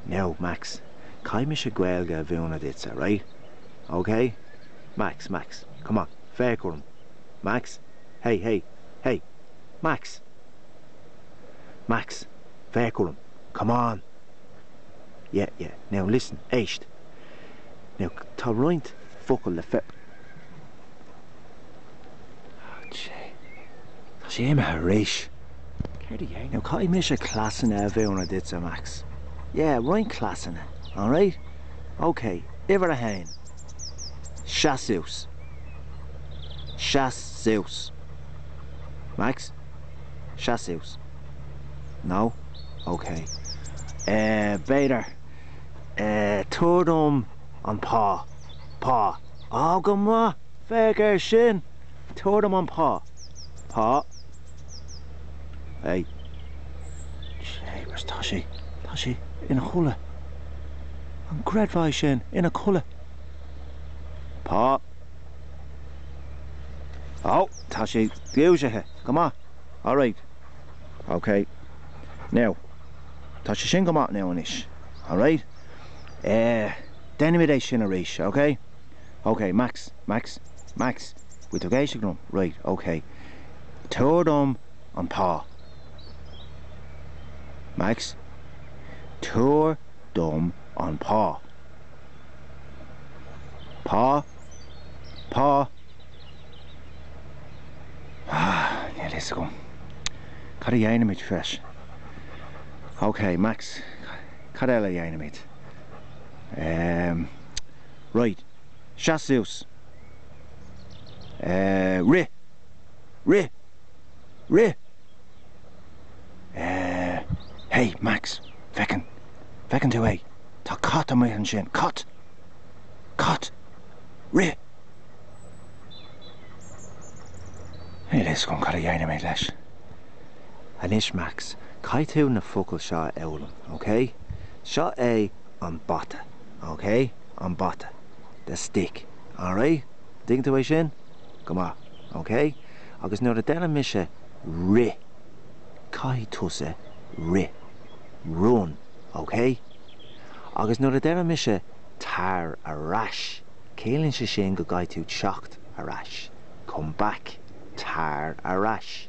Now, Max, caithfidh mise Gaeilge a mhúineadh duitse, right? OK? Max, Max, come on, féach orm. Max? Hey, hey, hey! Max! Max, féach orm. Come on! Yeah, yeah, now listen, éist. Now, tá roinnt focal le fe... Tá sé imithe arís. Caithfidh mise cleasanna a mhúineadh duitse, Max. Yeah, roinnt cleasanna, alright? OK, uimhir a haon, seas suas. Seas suas. Max? Seas suas. No? OK. Eh, b'fhéidir, eh, tabhair dom an pá. Pá. Á, go maith, féach air sin! Tabhair dom an pá. Pá. Ei. Jeepers, tá sé, tá sé ina chodladh. An gcreidfeá é sin, ina chodladh. Pá. Á, tá sé dúisithe, go maith. All right. OK. Now, tá sé sin go maith now anois. All right. Eh, déanfaimid é sin arís, ok? Ok, Max, Max, Max, bhfuil tú ag éisteacht liom? Raight, ok. Tabhair dom an pá. Max, tabhair dom an pá. Pá, pá. Ah, níl fhios agam. Cad a dhéanfaimid leis? Ok, Max. Cad eile a dhéanfaimid? Ehm. Raight. Seas suas. Eh. Rith. Rith! Rith! Eh. Hé, Max! Feiceann. Feiceann tú é? Tá cat amuigh ansin. Cat! Cat! Rith! Níl a fhios agam cad a dhéanfaimid leis. Anois Max, caithfidh tú na focail seo a fhoghlaim, ok? Seo é an bata, ok? An bata. The stick. Alright? An dtuigeann tú é sin? Go maith. Ok? Agus nuair a deireann mise rith, caithfidh tusa rith. Run. Ok? Agus nuair a deireann mise tar ar ais, ciallaíonn sé sin go gcaithfidh tú teacht ar ais. Come back. Tar ar ais.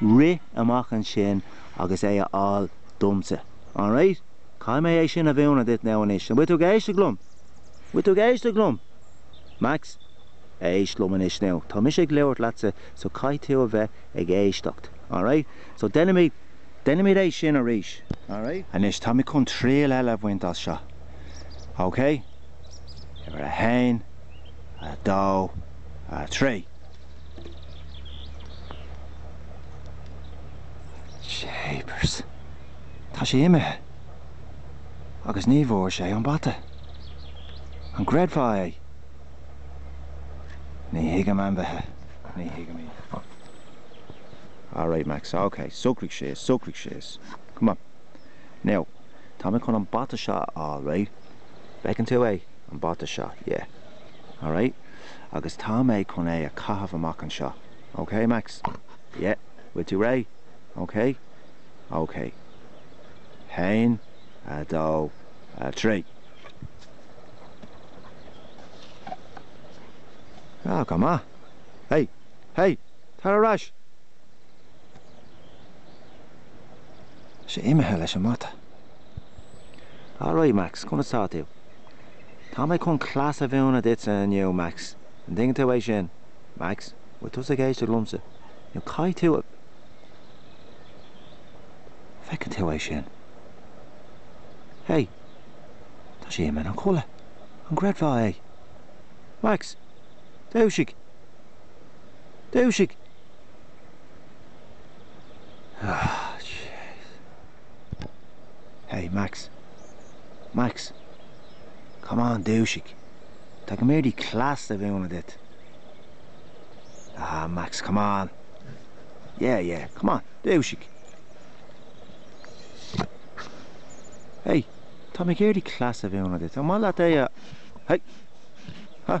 rith amach ansin agus é a fháil domsa. Alright? Caithfidh mé é sin a mhúineadh duit now anois. An bhfuil tú ag éisteacht liom? An bhfuil tú ag éisteacht liom? Max? Éist liom anois now. Tá mise ag labhairt leatsa so caithfidh tú a bheith ag éisteacht. Alright? So déanfaimid, déanfaimid é sin arís. Alright? Anois, táimid chun triail eile a bhaint as seo. Okay? Uimhir a haon, a dó, a trí. Jeepers. Tá sé imithe. Agus ní bhfuair sé an bata. An gcreidfeá é? Ní thuigim ainmhithe. Ní thuigim iad. All right, Max. OK. Socraigh síos. Socraigh síos. Come on. Now, tá mé chun an bata seo a fháil, right? Bhfeiceann tú é? An bata seo. Yeah. All right. agus tá mé chun é a chaitheamh amach anseo. OK, Max? Yeah? Bhfuil tú réidh? OK? OK. Haon, a dó, a trí. Ah, go maith. Hey! Hey! Tar ar ais! Sé imithe leis an mata. Alright, Max, conas tá tú? Tá mé chun cleas a mhúineadh duitse inniu, Max. An dtuigeann tú é sin? Max, bhfuil tusa ag éisteacht liomsa? Now caithfidh tú a. Feiceann tú é sin? Hé! Tá sé imithe a chodladh! An gcreidfeá é? Max! Dúisigh! Dúisigh! Hé, Max! Max! Come on, dúisigh! Tá mé ag iarraidh cleas a mhúineadh duit! Ah, Max, come on! Yeah, yeah, come on, dúisigh! Hey, tá mé ag iarraidh cleas a mhúineadh duit, ar mhaith leat é a, hey! Huh?